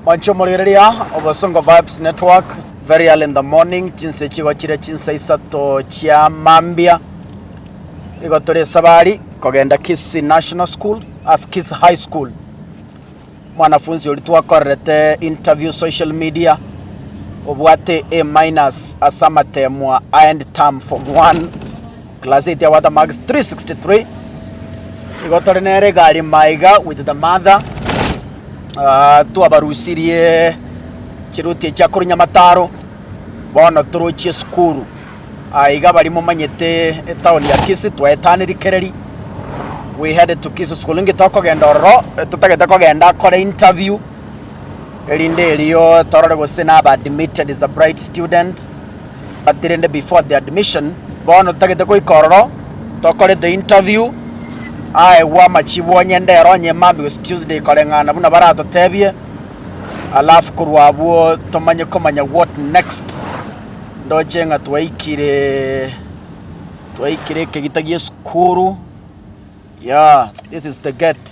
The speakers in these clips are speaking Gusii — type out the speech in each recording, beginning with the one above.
Banchomorigereria obosongo ba Vibes Network very early in the morning chinsa echigochire chinsa isato chia mambia igo tore esabari kogenda Kisii National School as Kisii High School mwanafunzi oria twakorerete interview social media obwate A minus ase amatemwa aende term form one Class 8 ya Watermax 363 igo tore nere egari maiga with the mother Ah, twabarusirie chiruti echia korwa nyamataro bono torochie esukuru aiga bari momanyete etaoni ya kisi twaetaneri kereri we headed to kisi school inge tokogenda ororo eh, totagete kogenda kore interview erinde erio torore gose naba admitted as a bright student But rende before the admission, bono tagete goika ororo, tokore the interview, aegwe amachibu onye ndero onye Monday gose Tuesday koreng'ana buna baratotebie, alafu korwa abwo tomanye komanya what next. Ndoche ng'a twaikire twaikire ekegita gi'esukuru, yeah, this is the gate.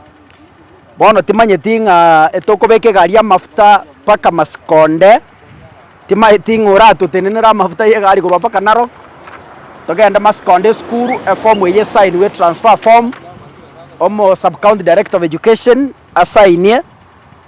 Bono timanyeti ng'a etokobeka egari amafuta mpaka masiko onde, timanyeti ng'a oratotenenere amafuta y'egari korwa mpaka narok, togende masiko onde esukuru efomu eywo esainiwe etransfer form, omo sub county director of education asainie.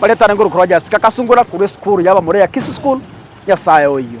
Baretane nguru Crojaski akasungura korwa esukuru y'abamura ya Kisu School, Nyasae oyio.